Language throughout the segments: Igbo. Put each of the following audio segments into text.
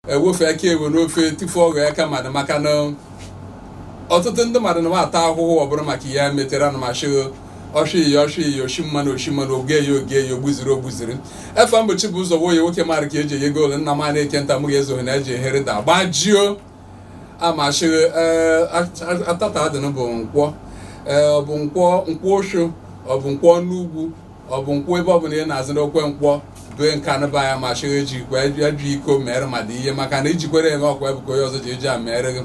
ewefu aka enwe n'ofe tufu ọ ghọọ aka mmadụ maka na ọtụtụ ndị mmadụ na-ata ahụhụ ọ bụrụ maka ya metere na machi oshi oshi oshi mmanụ oshi mmanụ oge ya oge ya ogbuziri ogbuziri efe mgbochi bụ ụzọ nwoye nwoke mara ka eji eyego ole nna m na-eke nta m ga-ezoghị na eji ehere da gbajio amachiri ee at- at- tata dị nụ bụ nkwọ ee ọ bụ nkwọ nkwọ osho ọ bụ nkwọ n'ugwu ọ bụ nkwọ ebe ọbụla ị na-azụ n'okwe nkwọ due nkanụ ba ya machiri eji ikwe ya ju iko mere ma dị ihe maka na ijikwere eme ọkwa ebuka onye ọzọ ji eji a mere gị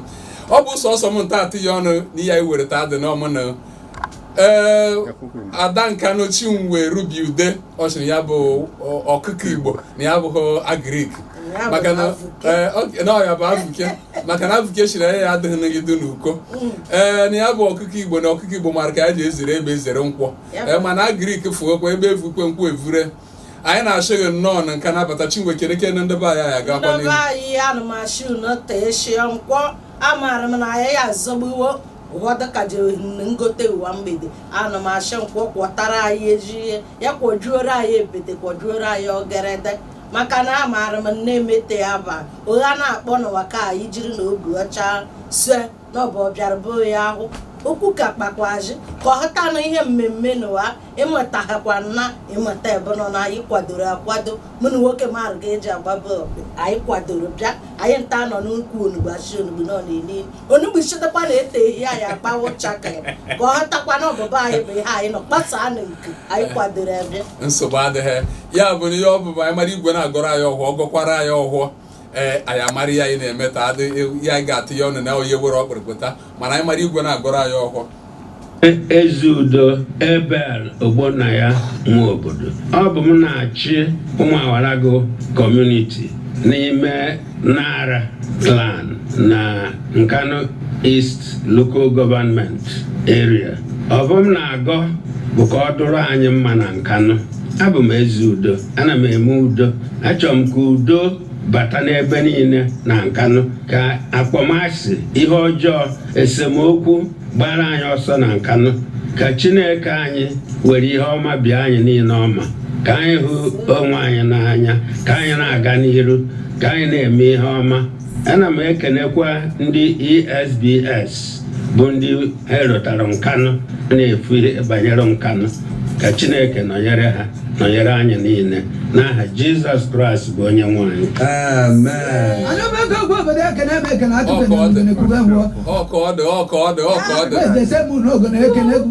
ọ bụ sọsọ m nta atụ ya ọnụ n'ihe anyị nwere ta dị nụ ọmụ na ee ada nkanụ chinwe rubi ude ọ sịrị ya bụ ọ- ọkụkọ igbo na ya bụghị agrik Ya bụ maka na Afuke. ee, ọ- na ọ ya bụ afuke maka na afuke siri ya adịghị n'idu n'uko ee na ya bụ ọkụkọ igbo na ọkụkọ igbo mara ka ya ji ezere ebe ezere nkwọ Ya bụ- ee mana agrik fụokwa ebe evukwe nkwọ evure anyị na-asị gị nnọọ na nkanụ bata chinwe kere kene ndị be anyị anyị agakwa ndị n'ihu be anyị anụmachi unu tee shie nkwọ amaara m na ya ya azọgbuwo ụwa dịka jere ngote ụwa mgbede ana m asị nkwọ kwọtara anyị ezi ihe ya kwọjuoro anyị ebete kwọjuoro anyị ogerede maka na amaara m na emete ya ba ọgha na-akpọ n'ụwa ka anyị jiri na obi ọcha sue n'ọbụ ọbịara bụ ya ahụ okwu ka kpakwazi ka ọ hụtanụ ihe mmemme n'ụwa ịmata ha kwa nna ịmata ebe nọ na anyị kwadoro akwado mụ na nwoke mara ka eji agba bọọlụ anyị kwadoro bịa anyị nta nọ n'ukwu onugbu asị onugbu nọ n'ili onugbu chetakwa na ete ehi anyị agbawa ụcha ka ya ka ọ hụtakwa na ọbịbịa anyị bụ ihe anyị nọ kpasaa na nke anyị kwadoro ebe nsogbu adịghị ya bụ na ihe ọ bụ bụ anyị mara igwe na-agọrọ anyị ọhọ gọkwara anyị ọhọ ee anyị amara ihe anyị na-eme ta adị ya anyị ga-atụ ya ọnụ na onye were ọkpụrụpụta mana anyị mara igwe na-agọrọ anyị ọhọ eze udo abel ogbonnaya nwobodo ọ bụ m na-achị umuawalagu kọmuniti n'ime nara clan na nkanu east local government area ọ bụ m na-agọ bụ ka ọ dụrụ anyị mma na nkanu abụ m eze udo ana m eme udo achọrọ m ka udo bata n'ebe niile na nkanụ ka akpọmasị ihe ọjọọ esemokwu gbaara anyị ọsọ na nkanụ ka chineke anyị were ihe ọma bịa anyị niile ọma ka anyị hụ onwe anyị n'anya ka anyị na-aga n'iru ka anyị na-eme ihe ọma ana m ekenekwa ndị esbs bụ ndị ha rotara nkanụ na-efu ihe banyere nkanụ ka chineke nọnyere ha nọnyere anyị niile n'aha jizọs kraịst bụ onye nwe anyị Amen. Anyị bụ ego ogbe obodo ekene ebe ekene atụbe na ogene kwube ngwọ. Ọkọdụ, ọkọdụ, ọkọdụ. Eze se mụ na ogene ekene egwu.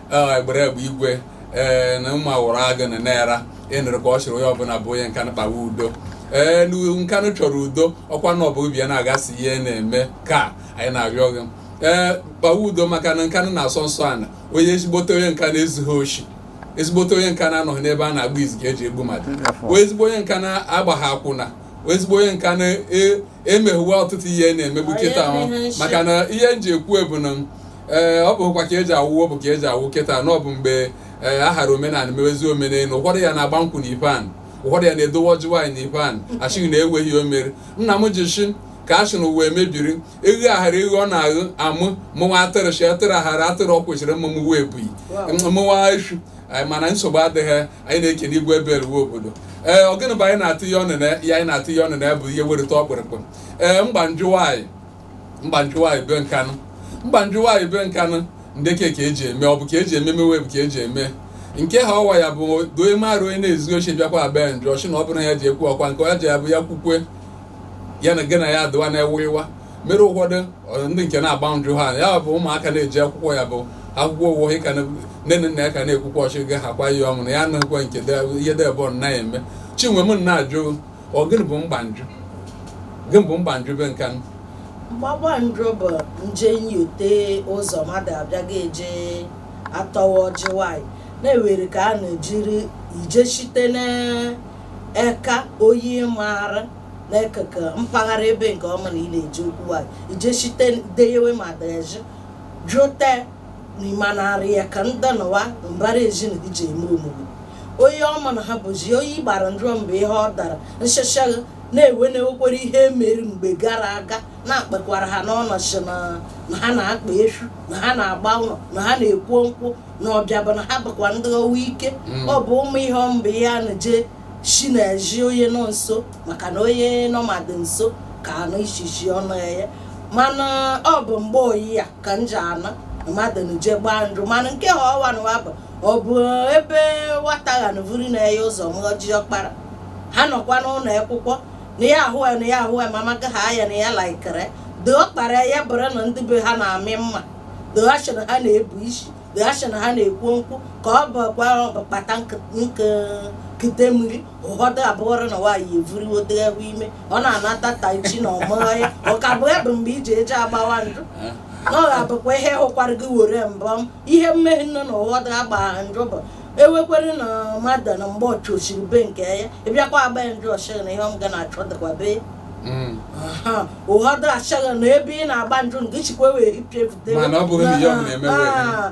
egbere egbe igwe ee na mma wụrụ agụ na nara ịnụrụ ka ọ chịrị onye ọbụla bụ onye nkanụ kpawa udo ee nkanụ chọrọ udo ọkwa na ọbụ bịa na-agasị ihe na-eme ka anyị na-arịọ gị ee kpawa udo maka na nkanụ na-asọ nsọ ana onye ezigbote onye nkanụ ezughị oshi ezigbote onye nkanụ anọghị n'ebe a na-agba izu ka eji egbu mmadụ ezigbo onye nkanụ agbaghị akwụna ezigbo onye nkanụ emeghewe e, ọtụtụ ihe na-emegbu kịta ahụ maka na ihe m ji ekwu ebu na ee ọ bụkwa ka eji awụwo bụ ka eji awụ kịta na ọ bụ mgbe ee ahara omenala mewezi omenelu ụfọdụ ya na-agba nkwụ na ipan ụfọdụ ya na-edowe ọjị nwaanyị na ipan achịghị na enweghị o mere nna m ji shi ka a sị na uwe mebiri eghe aghara eghe ọ na-aghụ amụ mụnwa atịrị shi atịrị aghara atịrị ọ kwesịrị mma mụwa ebughị mụwa efu anyị mana nsogbu adịghị anyị na-ekene igwe ebe eruwe obodo ee ọ gịnị bụ anyị na-atụ ihe ọnụ na ya anyị na-atụ ihe ọnụ na ya bụ ihe werịta ọkpụrụkpụ ee mgba njụ nwaanyị mgbanjụ nwaanyị be nkanụ mgbanjụ nwaanyị be nkanụ ndeke ka eji eme ọ bụ ka eji eme mewe bụ ka eji eme nke ha ọwa ya bụ doe marụ onye na-ezu oshi bịakwa abịa njọ ọchị na ọ bụrụ ya ji ekwu ọkwa nke ọ ji abụ ya kwukwe ya na gị na ya adịwa na-ewe ịwa mere ụfọdụ ọ- ndị nke na-agba njụ ha ya bụ ụmụaka na-eje akwụkwọ ya bụ akwụkwọ ụgwọ ha ka na- nne na nna ya ka na-akwụkwa ọchị gị ha kwa ihe ọmụ na ya anaghịkwa nke de- ihe debọ na-eme chinwe m na-ajụ Ọ gịnị bụ mgbanjụ? Gịnị bụ mgbanjụ be Nkanụ? Mgbagbanjụ bụ nje nyote ụzọ mmadụ abịaghị eje atọwa ọjị nwanyị na e nwere ka a na-ejiri eje shite n'eka oyi maara n'ekụkụ mpaghara ebe nke ọ bụ na ị na-eje okwu nwanyị ije site deyewe ma deji jụte n'ime narị ya ka ndị nọwa mbara ezinụlọ ji eme omume onye ọ bụ na ha bụzi oyi gbara ndụ mgbe ihe ọ dara nshashagha na e nwe na e nwekwara ihe mere mgbe gara aga na-akpakwara ha n'ọnọchị na na ha na-akpa efu na ha na-agba ụlọ na ha na-ekwo nkwụ na ọbịa bụ na ha bụkwa ndị ọnwụ ike Mm. ọ bụ ụmụ ihe mgbe ihe a na-eje shi n'ezi onye nọ nso maka na onye nọ mmadụ nso ka anụ ishishi ọnụ ya mana ọ bụ mgbe oyi ya ka m ji anụ mmadụ na-eje gbaa njụ mana nke ha ọwa na wa bụ ọ bụ ebe nwata ghanụ vuru nna ya ụzọ mghaji ọkpara ha nọkwa n'ụlọ akwụkwọ na ya ahụ ya na ya ahụ ya ma maka ha ya na ya likere de ọkpara ya bụrụ na ndị be ha na-amị mma de asị na ha na-ebu isi de asị na ha na-ekwu nkwụ ka ọ bụkwa kpata nkute mmiri ụfọdụ abụọrọ na nwaanyị evuriwo dị ewu ime ọ na-anata taa echi na ọmụghọ ya ọ ka bụ ebe mgbe i ji eje agbawa njụ na ọ ga-abụkwa ihe hụkwara gị were mbọ m ihe mmehie nne na ụfọdụ agbagha njụ bụ ewekwere na mmadụ na mgbe ọchụ osiri be nke ya ịbịakwa agba ya njụ ọchịghị na ihe m ga na-achọ dịkwa be ya Mm. Aha, ụfọdụ achọghị na ebe ị na-agba njụ nke chikwa wee ipịa ebute Mana ọ bụghị na ihe ọ bụla emewe.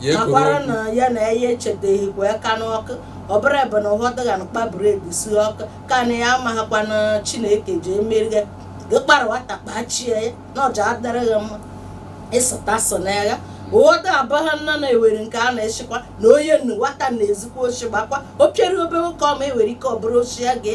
ya ekwuru akwara okwu. na ya na ya echeteghịkwa aka n'ọkụ ọ bụrụ ebe na ụhọdụ ga na kpaburu egusi ọkụ ka na ya amaghakwa na chineke ji emere ya gị kpara nwata kpachie ya na ọja adịrị gị mma ịsụta so n'agha ụhọdụ abụghị nna na-ewere nke a na-echekwa na onye nnu nwata na-ezikwa ochi gbakwa o piere obere ụka ọma ewere ike ọ bụrụ ochie ya gị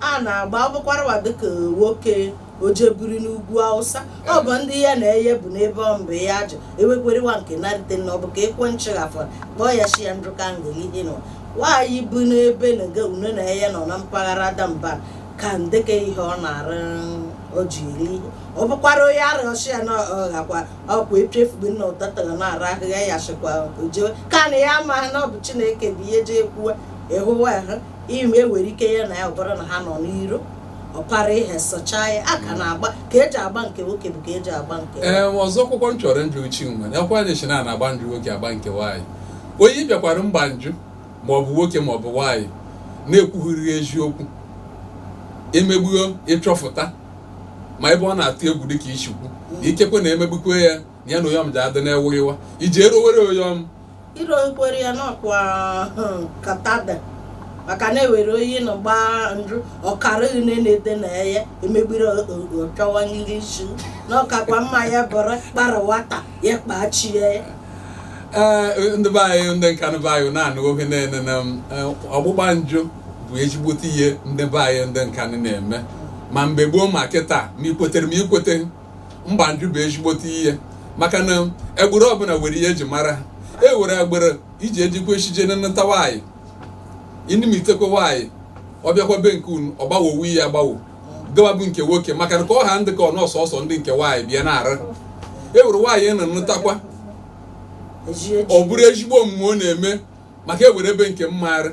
a na-agba ọ bụkwarụwa dịka nwoke o je biri n'ugwu Awụsa ọ bụ ndị ya na eye bụ n'ebe ọ mgbe ya ajụ ewekwerewa nke narịte na ọ bụ ka ekwe nchịghafọ kpọọ ya shi ya ndụka ngelihe nọ nwaanyị bụ n'ebe na ga une na eye nọ na mpaghara damban ka ndeke ihe ọ na-arụ o ji eri ihe ọ bụkwara onye arịọchi ya na ọghakwa ọkwa echefugo nna ụtatara na-ara ahịhịa ya shịkwa o jewe ka na ya amaghị na ọ bụ chineke bụ ihe ji ekwuwe ịhụwa ahụ ime ewere ike ya na ya ọ bụrụ na ha nọ n'iro ọ para ihe sọchaa ya a ka na-agba ka eji agba nke nwoke bụ ka eji agba nke ee ọzọ kwụkwọ m chọrọ njụ uchi nwe nakwa anyị shị na a na-agba njụ nwoke agba nke nwaanyị onye bịakwara mgba njụ ma ọ bụ nwoke ma ọ bụ nwaanyị na-ekwughịrị eziokwu emegbuo ịchọfụta ma ebe ọ na-atụ egwu dịka i shi kwuo ikekwe na emegbukwe ya ya na oyom ji adị na-eweghewa iji erowere oyom irokwere ya n'ọkwa katada maka na ewere onye na-agba njụ ọ kara une na-ede na ya emebiri ọ chọwa ndị isi n'ọkakwa mma ya bụrụ kpara nwata ya kpachie ya ee ndị be anyị ndị Nkanu be anyị na-anụ oge na-ene na m, eh, ọgbụgba njụ bụ ezigbote ihe ndị be anyị ndị Nkanu na-eme ma mgbe gboo ma kịta ma i kwetere ma i kwete mgba njụ bụ ezigbote ihe maka na egbụrụ ọbụla were ihe eji mara ha e were egbụrụ i ji ejikwa echije na nnụta nwaanyị inimitekwa nwaanyị ọ bịakwa be nke unu ọ gbawo onwe ya agbawo gawa bụ nke nwoke maka na ka ọha ndị ka ọ nọọsụ ọ sọ ndị nke nwaanyị bịa na-ara e were nwaanyị unu nụtakwa ọ bụrụ ezigbo omume ọ na-eme maka ewere ebe nke m maara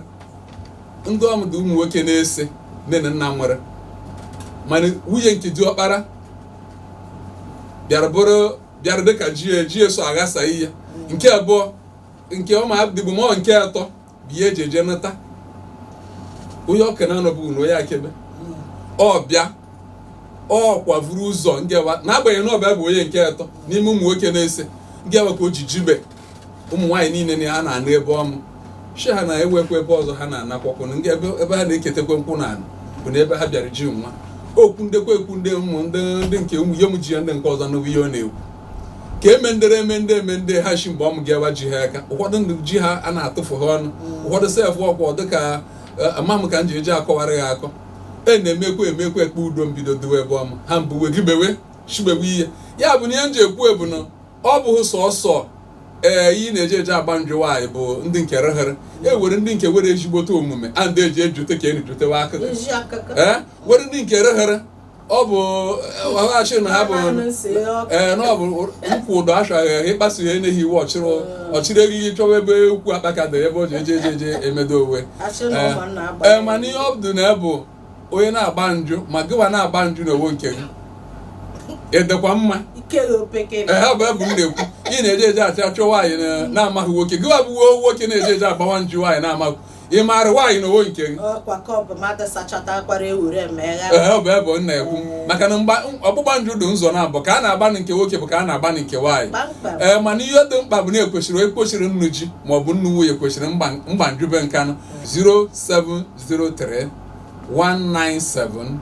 ndị ọm dị ụmụ nwoke na-ese nne na nna mụrụ mana nwunye nke diọkpara bịara bụrụ bịara dịka jie jie so aghasa ihe nke abụọ nke ọma dịbụ mọ nke atọ bụ ihe eji eje nụta onye ọka na-anọbụ na onye akebe ọ bịa ọ kwavuru ụzọ ngewa n'agbanyeghị na ọ bịa bụ onye nke atọ n'ime ụmụ nwoke na-ese ngewa ka o ji jibe ụmụ nwaanyị niile na ha na-anụ ebe ọnụ shi ha na-ewekwa ebe ọzọ ha na-anakwakwu ndị ebe ebe ha na-eketekwe nkwụ na anụ bụ na ebe ha bịara ji nwa okwu ndekwa ekwu ndị ụmụ ndị ndị nke ụmụ ihe m ji ya ndị nke ọzọ n'ụwa ihe ọ na-ekwu ka emendere emende emende ha shi mgbe ọmụ ga-ewa ji ha aka ụfọdụ ndị ji ha a na-atụfu ha ọnụ ụfọdụ sef ọkwọ dịka ama m ka m ji eji akọwara ya akọ e na-emekwa emekwa ekpe udo mbido dowe ebe ọma ha mbuwe gibewe shigbewe ihe ya bụ na ihe m ji ekwu ebu na ọ bụghị sọsọ ee ihe a na-eji eji agba njụ nwaanyị bụ ndị nke rehere e were ndị nke were ezigbote omume a ndị eji ejute ka enujutewa aka Ezi akụkọ. ee were ndị nke rehere ọ bụ ọghachị na ha bụ Ama m nsị ọkụ. ee na ọ bụ ụkwụ ụdọ achaghị ahụ ịkpasu ya enyeghị iwu ọchịrị ọchịrị eghighi chọwa ebe ukwu akpaka dị ebe o ji eje eje eje emedo onwe Achị na ụmụ nna agba. ee mana ihe ọ dị na ya bụ onye na-agba njụ ma gịwa na-agba njụ n'onwo nke gị ị dịkwa mma ehe ọ bụ ebe m na-ekwu ị na-eje eje achị achọ nwaanyị na-amaghị nwoke gịwa bụ uwe nwoke na-eje eje agbawa njụ nwaanyị na-amaghị ị maara nwaanyị n'onwo nke gị ehe bụ ebe m na-ekwu maka na ọgbụgba njụ dị ụzọ nabọ ka a na-agbanị nke nwoke bụ ka a na-agbanị nke nwaanyị ee mana ihe dị mkpa bụ na ekwesịrị ekwesịrị nnụ ji maọbụ nnụ nwunye kwesịrị mgba njụ be Nkanụ 07 03 197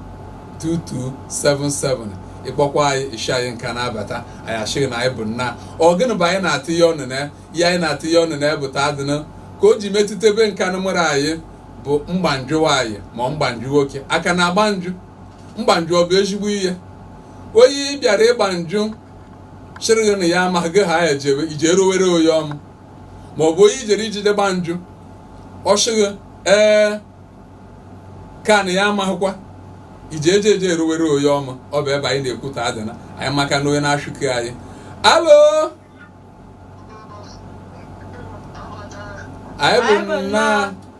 2277 ị kpọkwa anyị shi anyị Nkanụ abata anyị asị gị na anyị bụ nnaa ọ gịnị bụ anyị na-atịnye ọnụ na ya anyị na-atịnye ọnụ na bụ taa dịnụ ka o ji metụte be Nkanụ a mụrụ anyị bụ mgba njụ nwaanyị ma ọ mgba njụ nwoke a ka na-agba njụ mgba njụ ọ bụ ezigbo ihe onye bịara ịgba njụ sịrị gị na ya amaghị eje ije erowere onye ọmụ ma ọ bụ onye i jere ije ịgba njụ ọ sị gị ee ka na ya amaghịkwa ije eje eje eruwere onye ọmụ ọ bụ ebe anyị na-ekwu taa dịnụ anyị maka na onye na-achụke anyị alo anyị bụ nnaa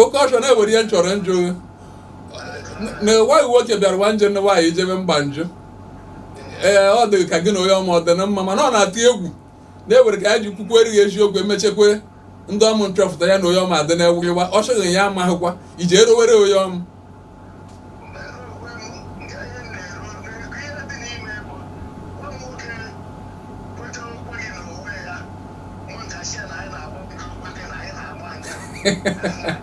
oke ọchọ na e were ihe m chọrọ njụ na nwaanyị nwoke bịara nwa nje nne nwaanyị ijebe mgba njụ ee ọ dịghị ka gị na onye ọmụ ọ dị na mma mana ọ na-atụ egwu na e were ka ya ji kwukwuere gị eziokwu emechekwe ndị ọmụ nchọpụta ya na onye ọmụ adị na-ewu iwe ọ sị gị na ya amaghịkwa iji erowere onye ọmụ Yeah.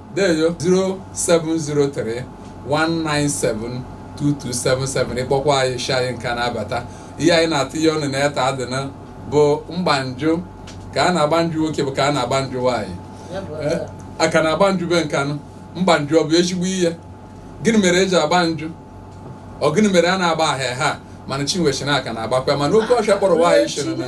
deyo 0703 197 2277 ị kpọkwa anyị shi anyị Nkanụ abata ihe anyị na-atịnye ọnụ na ya taa dịnụ bụ mgba njụ ka a na-agba njụ nwoke bụ ka a na-agba njụ nwaanyị Eh, a ka na-agba njụ be Nkanụ mgba njụ ọ bụ ezigbo ihe gịnị mere e ji agba njụ ọ gịnị mere a na-agba ahịa ha mana Chinwe shi na a ka na-agbakwa mana oke ọhịa kpọrọ nwaanyị shiri na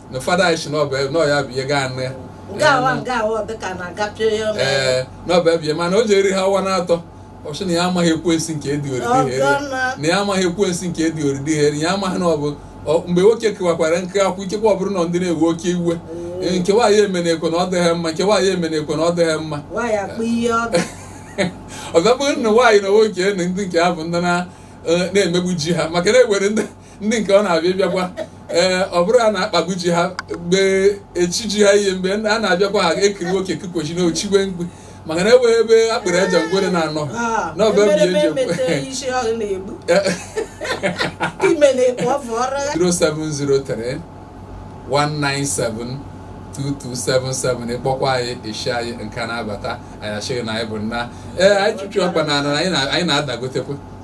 na fada anyị si n'ọbụ ebe n'ọya bụ ihe gaa nne nke awa nke awa ọ dịka na-agapịa ya ọnụ. ee n'ọbụ ebe ihe mana o ji eri ha ọwa na-atọ ọ sị na ya amaghị ekwensi nke edi oridi ha eri Ọgọna. na ya amaghị ekwensi nke edi oridi ha eri ya amaghị na ọ bụ ọ- mgbe nwoke kewakwara nke akwụ ikekwe ọ bụrụ na ndị na-ewe oke iwe Ee, nke nwaanyị emena ekwe na ọ dịghị mma nke nwaanyị emena ekwe na ọ dịghị mma nwaanyị akpụ ihe ọdụ ọzọ bụrụ na nwaanyị na nwoke na ndị nke ha bụ ndị na- eh, na-emegbu ji ha maka na enwere ndị ndị nke ọ na-abịa bịakwa ee ọ bụrụ a na-akpagbuji ha mgbe echi ji ha ihe mgbe a na-abịakwa ha ekiri nwoke kikwochi na ochigwe mgbe maka na enweghị ebe a kpere aja ngwere na-anọ Ah, n'ọbụ ebe emereme eji ekwe. emete isi ọ na-egbu ime na-ekpu ọ fọrọ ya 0703 197 2277 ị kpọkwa anyị isi anyị nke na-abata anyị achịghị na anyị bụ nna ee anyị chụchụ ọkpa na ana anyị na- anyị na-adagotekwa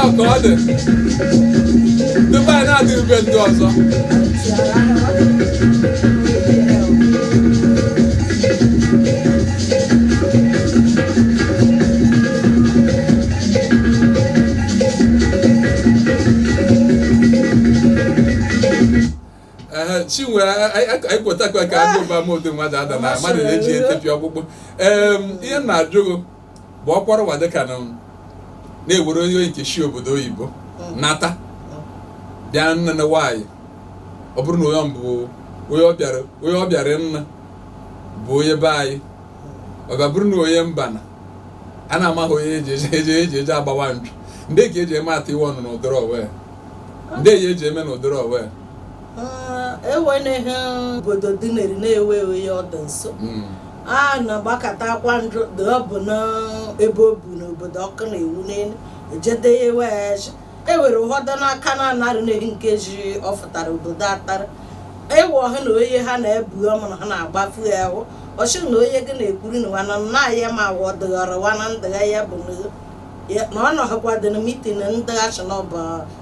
ọ ka ọ dị tupu anyị na-adị ebe ndị ọzọ Ehe, chinwe anyị kwetakwa ka agụba m ụdị mmadụ ada na mmadụ na-eji etepịa ọkpụkpụ Em, ihe m na-ajụ gị bụ ọkpọrọ ụwa dịka unu na-ewere onye oyi nke shi obodo oyibo nata bịa nna na nwaanyị ọ bụrụ na onye ọ bụ onye ọ bịara onye ọ bịara nna bụ onye be anyị ọ ga bụrụ na onye mba na a na-amaghị onye eji eje eje eji eje agbawa nju ndị ka eji eme atụ iwe ọnụ na ụdịrị owe ndị eji eji eme na ụdịrị owe enweghị obodo dị n'eri na-ewe ewe ya ọdụ nso hmm. a na-agbakọta akwa ndụ dị ọ bụ n'ebe o bu n'obodo ọkụ na-ewu n'elu ejede ya ewe ya eji ewere ụfọdụ n'aka na anarị ihe nke ji ọ fụtara obodo atara ewe ọha na onye ha na-ebu ọmụrụ ha na-agbafu ya ahụ ọchị na onye gị na-ekwuru na nwana nna ya ma wa ọdịghara wana ndịgha ya bụ Ya- na ọ nọghịkwa dị na mitin ndị achị na ọbụ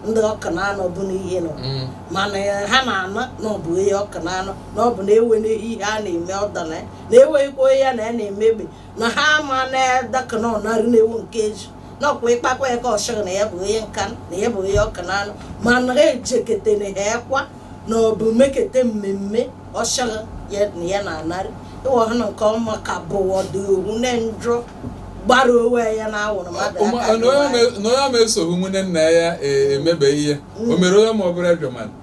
ndị ọka na anọ bụ n'ihe nọ Mm. mana ya- ha na-anọ na ọ bụ onye ọka na anọ na ọ bụ na ewe na ihe a na-eme ọda na ya na eweghịkwa onye ya na ya na-eme egbe na ha ama na daka na ọnarị na ewu nke eji na ọkwa ịkpakwa ya ka ọ chọrọ na ya bụ onye nka na ya bụ onye ọka na anọ mana ha ejekete na ha ekwa na ọ bụ mekete mmemme ọ chọrọ ya na ya na-anarị ịwa ha na nke ọma ka bụwa dị owu na njọ gbara onwe ya n'anwụrụ mmadụ Ụmụ- aka na onye ma- na onye ma esoghị ụmụnne nna ya e- emebe ihe o mere onye ma ọ bụrụ ejọ mmadụ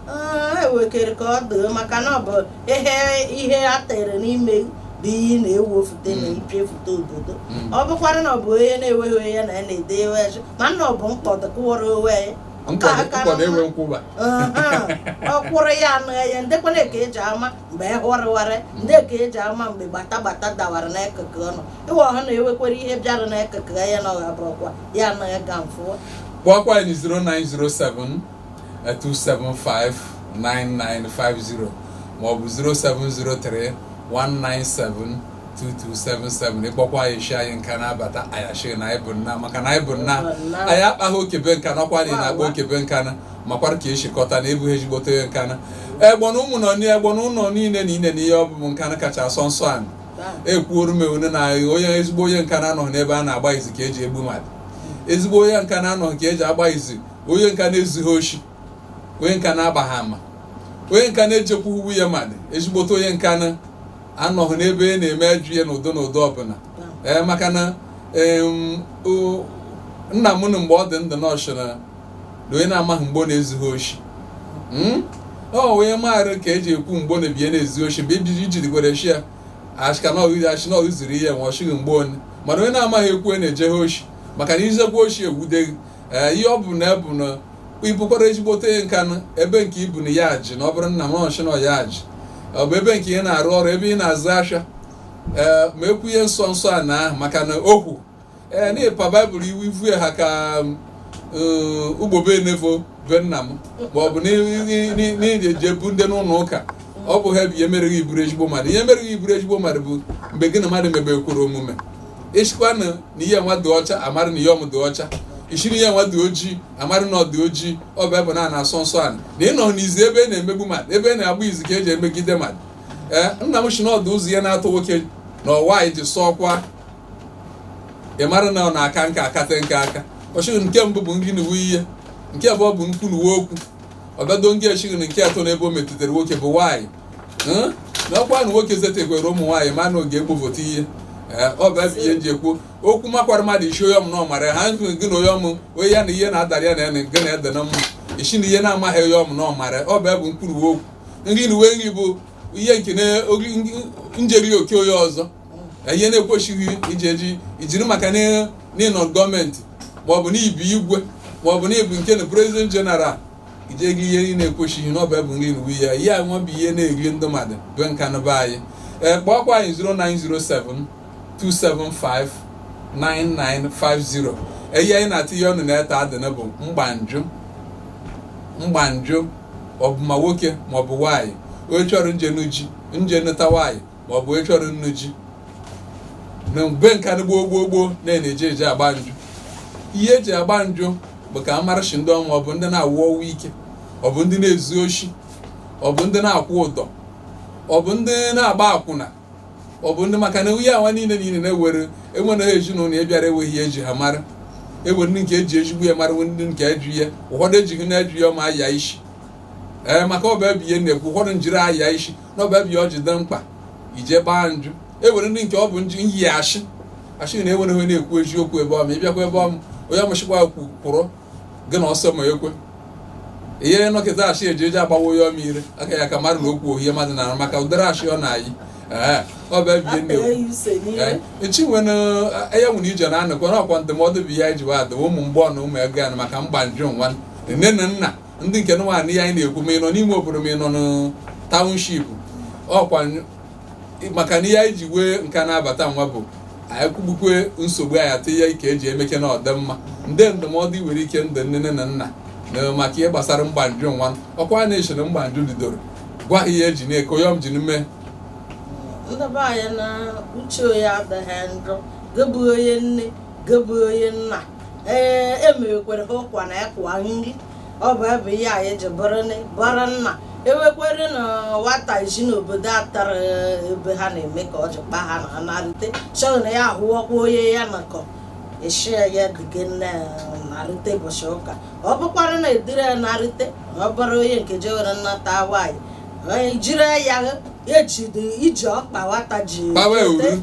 Ah, ha wekere ka ọ doo maka na ọ bụ ihe ihe a tere n'ime bụ iyi na-ewefute na Mm. ipiefute obodo Mm. ọ bụkwara na ọ bụ onye na-enweghị onye na ya na-ede ewe ya mana ọ bụ mkpọdụ kụwara onwe ya Nke a nkwado ka nkwado na- enwe nkwụba Aha, ọ kwụrụ ya anụ ya ndekwanụ ka e ji ama mgbe e hụrịwarị ndị ka e ji ama mgbe gbata gbata dawara n'akụkụ ọnụ ịwa ọha na-ewekwere ihe bịara n'akụkụ ya na ọha bụ ọkwa ya na ịga mfụ kpọọkwa anyị 0907 275 9950 ma ọ bụ 0703 197 2277 ị kpọkwa anyị shi anyị Nkanu abata anyị shi na anyị bụ nnaa maka na anyị bụ nnaa anyị akpaghị oke be Nkanu kwa anyị na-akpa oke be Nkanu makwara ka e si kọta na ebughị ezigbote onye Nkanu egbona ụmụ nọ niile egbona ụlọ niile na ine na ihe ọ bụ Nkanu kacha asọ nsọ anị ekwuoru m ewune na onye ezigbo onye Nkanu anọghị n'ebe a na-agba izu ka e ji egbu mmadụ ezigbo onye Nkanu anọghị ka e ji agba izu onye Nkanu ezughị oshi onye Nkanu agbaghị ama onye Nkanu echekwa uwe ya mmadụ ezigbote onye Nkanu anọghị n'ebe a na-eme ajọ ihe n'ụdị n'ụdị ọ bụla ee maka na em, o- nna m nụ mgbe ọ dị ndụ na ọ shi na na onye na-amaghị mgbe ọ na-ezughị oshi hmm? ọ wee maara ka e ji ekwu mgbe ọ na-ebiye na-ezu oshi mgbe ejiji jidigwere shi ya achịka na ọghịzi achị na ọghịziri ihe nwa ọchịghị mgbe onye mana onye na-amaghị ekwu e na-ejeghe oshi maka na i zukwa oshi e wude gị ee eh, ihe ọ bụ na ebu na ị bụkwara ezigbote Nkanu ebe nke i bu na ya ji na ọ bụrụ nna m ọ shi na ya ji ọ bụ ebe nke ị na-arụ ọrụ ebe ị na-azụ ahịa ee eh, ma ekwu ihe nsọ nsọ anị ahụ maka na okwu ee na ịpa baịbụl iwu ivue ha ka eh, ugbobe enefo be nna m ma ọ bụ n'ije bu ndị n'ụlọ ụka ọ bụha bụ ihe mere gị ị bụrụ ezigbo mmadụ ihe mere gị ị bụrụ ezigbo mmadụ bụ mgbe gị na mmadụ mebe kwuru omume i shikwanụ na ihe nwa dị ọcha a mara na ihe ọm dị ọcha i shiri ihe nwa dị ojii a mara na ọ dị ojii ọ bụ ebe na na-asọ nsọ anị na ịnọ n'izu ebe a na-emegbu mmadụ ebe a na-agba izu ka e ji emegide mmadụ ee eh, nna m si na ọ dị ụzọ ihe n'atọ nwoke na nwaanyị ji sọọkwa ị mara na ọ na-aka nka akata nke aka ọ shi gị nke mbụ bụ ngị na uwe ihe nke abụọ bụ nkwu na uwe okwu ọ bịado ngị e shi gị na nke atọ n'ebe o metụtara nwoke bụ nwaanyị Hụ? na ọkwa na nwoke zetegwere ụmụ nwaanyị ma na oge egbovote ihe Ee, ọ bụ ebe ihe m ji ekwu okwu makwara mmadụ i si onye ọm na ọmara ya. ha nkụ gị na onye ọmụ onye ya na ihe na-adara ya na ya na nke na-ede na mma isi na ihe na-amaghị onye ọm na ọmara ya. ọ bụ ebe mkpụrụ uwe okwu nri na uwe nri bụ ihe nke na- oge- njeri oke onye ọzọ na ihe na-ekwesịghị iji eji ijiri maka na ị nọ government maọbụ na ị bụ igwe maọbụ na ị bụ nke na president general ije gị ihe ị na-ekwesịghị na ọ bụ ebe nri nwe ya ihe a nwa bụ ihe na-eri ndị mmadụ bụ nka na be anyị ee kpọọkwa anyị 0907 275 9950 ihe anyị na-atịnye ọnụ na-eta adịna bụ mgbanjụ mgbanjụ ọ bụ ma nwoke ma ọ bụ nwaanyị onye chọrọ nje nụ ji nje nụta nwaanyị ma ọ bụ ị chọrọ nnụ ji na mgbe nka ndị gboo gboo gboo na-eji eji agba njụ ihe eji agba njụ bụ ka a mara ishi ndị ọnwa ọ bụ ndị na-anwụ ọnwụ ike ọ bụ ndị na-ezu oshi ọ bụ ndị na-akwụ ụdọ ọ bụ ndị na-agba akwụna ọ bụ ndị maka na nwunye awa niile niile na-ewere enwere ezinụlọ ya bịara enweghị ihe eji ha mara ewere ndị nke eji ezigbo ya mara ndị nke eju ya ụfọdụ ejighị na-eju ya ma aya isi ee maka ọ bụ ebe ihe na-ekwu ụfọdụ njiri aya isi n'ọ bụ ebe ọ ji dị mkpa ije gbaa njụ ewere ndị nke ọ bụ njụ ịyị ashị ashị na ewere onye na-ekwu eziokwu ebe ọm ịbịakwa ebe ọm onye amụchikwa kwu kwụrụ gị na ọsọ ma ekwe ihe nọkịta ashị eji eji agbawa onye ọma ire aka ya ka mmadụ na okwu ohie mmadụ na maka ụdịrị ashị ọ na-ayị ee ọ bụ ebie nne Akpịrị ya use n'ihe. echi nwere ya nwere ije na anụkwa na ọkwa ndụmọdụ bụ ya iji wa adịwa ụmụ mgbọ na ụmụ ego ya na maka mgbanjụ nwa nne na nna ndị nke nwaanyị ya anyị na-ekwu ma ị nọ n'ime obodo ma ị nọ na township ọkwa maka na ihe anyị ji wee nka na-abata nwa bụ anyị kwugbukwe nsogbu anyị atụ ihe ike eji emeke na ọdịmma nde ndụmọdụ i nwere ike ndị nne na nna na maka ihe gbasara mgbanjụ nwa ọkwa a na-echere mgbanjụ bidoro gwa ha ihe eji na-eko yọm ji n'ime ndị be anyị na uche onye adịghị njọ gị bụ onye nne gị bụ onye nna ee emerekwere ha ụkwa na ịkwa nri ọ bụ ebe ihe anyị ji bụrụ nne- bụrụ nna ewekwere na nwata isi n'obodo a tara ebe ha na-eme ka ọ ji kpa ha na narute chọrọ na ya ahụwakwa onye ya nakọ esi ya dịga nne narute ụbọchị ụka ọ bụkwara na edire ya narute ọ bụrụ onye nke jewere nnata nwaanyị jiri ya ejide iji ọkpa nwata ji kpawa ewuru.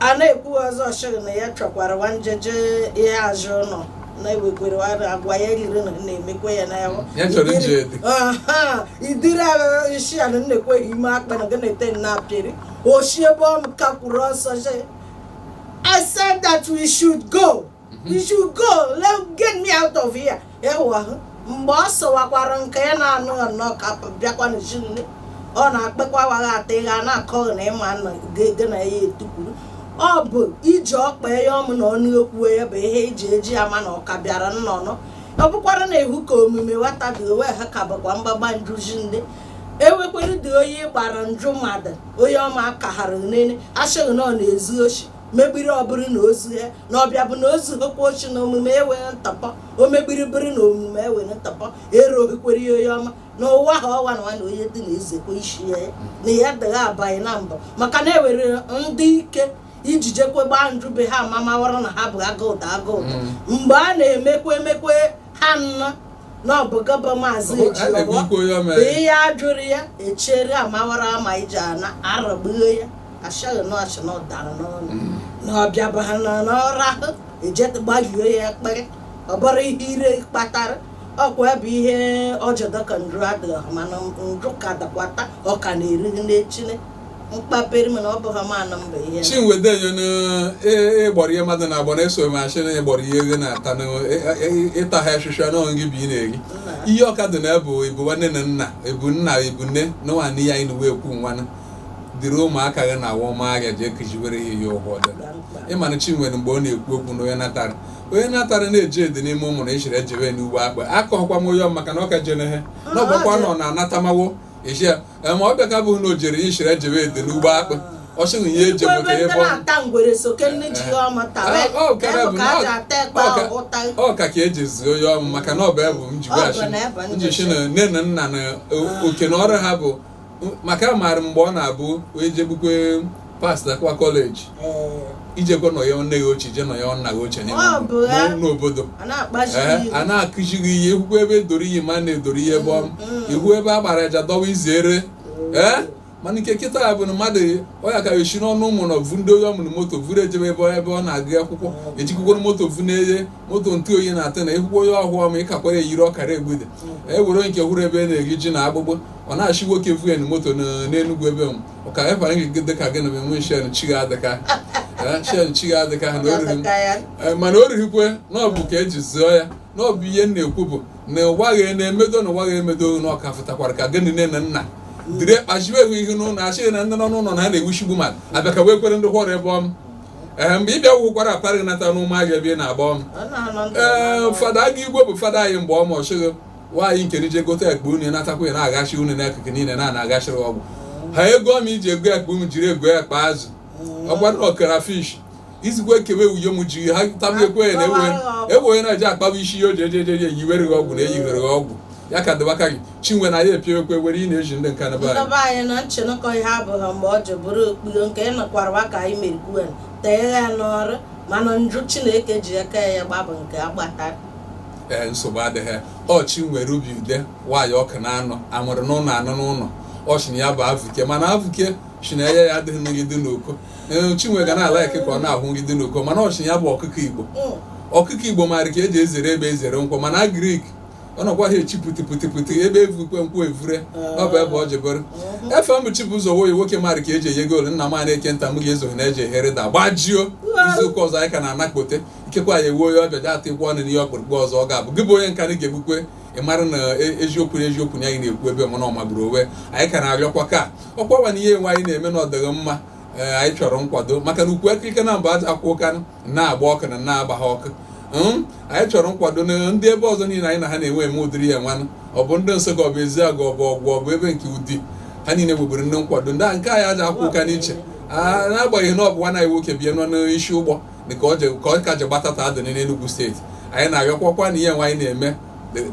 a na-ekwu ọzọ shịrị na ya chọkwara nwanjeje ihe azụ ụlọ na-ewekwere ara agwa ya riri na na-emekwa ya na Ya chọrọ iji ede. idiri agha isi ala na-ekweghị ime akpa na gana ete na apịrị oshi ebe ọ kakwuru ọsọ shị I said that we should go. you should go let get me out of here ewa mgbe ọ sọwakwara nke ya na-anụ ya nnọọ ka bịakwa n'ezinụlọ ọ na-akpekwa waghị ata ịgha na-akọghị na ịma nna gị gị na ya etukwuru ọ bụ iji ọkpa ya ọmụ na ọnụ okwu ya bụ ihe eji eji ama na ọka bịara nnọnọ ọ bụkwara na ihu ka omume nwata dị owe ha ka bụkwa mgbagba njuzi ndị ewekwere dị onye gbara njụ mmadụ onye ọma kaghara nene asịghị na ọ na-ezu oshi megbiri ọbụrụ na ozu ya na ọbịa bụ na o zuhokwa oshi na omume ewere ntụpọ o megbiri bụrụ na omume ewere ntụpọ ero ohikwere ya onye ọma na ụwa ha ọwa na nwa na onye dị na ezekwa isi ya na ya dịghị abaghị na mbụ maka na ewere ndị ike iji jekwe gbaa nju be ha ma mawara na ha bụ agụụda agụụda mgbe a na-emekwa emekwe ha nnọ na ọ bụ gọbọ maazị ya a jụrụ ya echere amawara ama iji ana aragbuo ya ashaghị na ọchị na ọ dara n'ọnụ na ọbịa bụ ha nọ n'ọrụ ahụ eje gbaghio ya ekpere ọ bụrụ ihe ire kpatara ọkwa bụ ihe ọjọdọ ka nju adịghị mana nju ka dakwata ọ ka na-eri n'echine mkpaperi mana ọ bụghị ma anọ mba ihe chinwede yonu ịgbọrọ ihe mmadụ na-agbọ na-eso m achị na ịgbọrọ ihe gị na-ata na ịta ha ahịhịa n'ọnụ gị bụ ị na-eri ihe ọka dị na ebu ebu nwanne na nna ebu nna ebu nne na nwanne ya anyị na uwe ekwu nwanne dịrị ụmụaka gị na awọma ahịa ji ekejiwere ha ihe ụgwọ dị ịmana chinwere mgbe ọ na-ekwu okwu na onye natara onye natara na-eji ede n'ime ụmụ na echere ejewe n'ugbo akpa akọghọkwa m onye ọ maka na ọ ka jere ha na ọgbakwa nọ na anatamawo echi ya ee, ma ọ bịa ka bụ na o jere ishire jewe ede n'ugbo akpụ ọ sị na ihe eji Igwe maka ebe ịbọ na-ata ngwere so ke nne ji ya ọma tawa Ọ- ọ ka ebe bụ bụ ka na a ọ- ji ata ekpe ọ ka- ahụ ụta ọ ka ka eji zuo ya ọmụ maka na ọ bụ ebe m ji Ọ bụ weghachi na ebe m njichi ji. na nne na nna na o- oke na ọrụ ha bụ maka amaara mgbe ọ na-abụ onye jegbukwe passakwa college ijekwa nọ ya nne gị ochie je nọ ya nna gị ochie n'obodo a na-akụzi gị ihe ikwukwa ebe edoro iyi ma na-edoro ihe ebe ọm ihu ebe a gbara aja dọwa izere ee mana nke kịta ya bụ na mmadụ ọya ka esi n'ọnụ ụmụ na ovu ndị onye ọ mụrụ moto vuru ejebe ebe ebe ọ na-agụ akwụkwọ ejikwukworo moto vu na-eye moto ntụ oyi na-atụ na ekwukwo onye ọhụụ ọma ịkakwara eyiri ọkara egbude e were nke hụrụ ebe na-eri ji na agbụgbọ ọ na-achị nwoke vuen moto n'enugwu ebe m ka anyị kwara gị dị ka gị na enwe shen chi gị adịka Eh, shen chi gị adịka ha na o riri Ka ya Eh, mana o righikwe na ọ bụ ka eji zụọ ya na ọ bụ ihe m na-ekwu bụ na ụwa gị na-emedo na ụwa gị emedo na ọka fụtakwara ka gịnị nne na nna dịrị kpachiwe ewu ihe n'ụlọ achịghị na ndị nọ n'ụlọ na ha na-ewuchigbu mmadụ abịa ka wee kwere ndị hụrụ ebe ọm ee mgbe ị bịa gwụkwara apara gị nata n'ụmụ ahịa ebe ị na-agba ọm ọ na-anọ ndụ ee fada aga igwe bụ fada anyị mgbe ọ ma ọchịghị nwaanyị nke nije gote ekpe unu natakwa ya na-agachi unu n'akụkụ niile na na-agachiri ọgwụ ha ego m iji ego ekpe m jiri ego ekpe azụ ọgbara ọkara fish izigwe kewe wuye m ji ha tabiekwe ya na ewe e na eji akpaba isi ya oji ejeje ya eyiwere gị ọgwụ na eyiwere gị ọgwụ ya ka dịbaka gị chinwe na ya epiewekwe were ị na-eji ndị nka naba anyị anyị na nchenụkọ ihe abụghị mgbe ọ ji bụrụ okpuru nke ịnọkwara ka anyị merikwe tee ya n'ọrụ mana njụ chineke ji aka ya gbabụ nke agbata ee nsogbu adịghị ọchị nwere ubi ude nwaanyị Ọkụnanọ a mụrụ n'ụlọ anụ n'ụlọ ọchị na ya bụ avụke mana avụke chi na ya ya adịghị nrụgide n'uko ee chinwe ga na-ala eke ka ọ na-ahụ nrụgide n'uko mana ọchị ya bụ ọkụkọ igbo ọkụkọ igbo maara ka e ji ezere egbe ezere nkwọ mana agrik ọ nọkwa ha echi puti puti puti egbe evukwe nkwọ evure ọ bụ ebe ọ jebere efe m chi bụ ụzọ woyi nwoke maara ka e ji enye goolu nna m a na-eke nta m ga-ezoghị na eji ehere da gbajio izu ụka ọzọ anyị ka na-anakpote ikekwe anyị ewuo ya ọ bịa data ịgwa ọnụ n'ihe ọkpụrụkpụ ọzọ ọ ga-abụ gị bụ onye nka na ga-egbukwe ị mara na e, eziokwu na eziokwu na anyị na-ekwu ebe mana ọmagburu onwe anyị ka na-arịọkwa ka ọkwawa na ihe enwe anyị na-eme na ọ dịghị mma e, anyị chọrọ nkwado maka na Ugwu Ikirike na mba aja akwụ ụka na-agba ọkụ na na-agba ha ọkụ hmm? anyị chọrọ nkwado na ndị ebe ọzọ niile anyị na ha na-enwe eme ụdịrị ya nwanụ ọ bụ ndị Nsụka ọ bụ Ezeagụ ọ bụ Ọgwụ ọ bụ ebe nke Udi ha niile nweburu ndị nkwado ndị a nke anyị aja akwụ ụka n'iche ah, n'agbanyeghị na ọ bụ nwa anyị nwoke bịa nọ n'isi ụgbọ na ka ọ ka ji gbatata adị n'Enugwu steeti anyị na-arịọkwakwa na ihe nwa anyị na-eme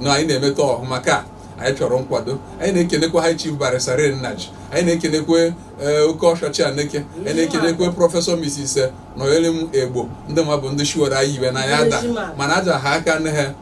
na anyị na-emeta ọhụma ka anyị chọrọ nkwado anyị na-ekenekwa ha chief barrister Nnaji anyị na-ekenekwe eh, oke oshishi Aneke anyị na-ekenekwe prọfesọ Mrs. Eh, Nonyelim Egbo ndị ma bụ ndị shiwere anyị iwe na ya ada mana aja ha aka nne ha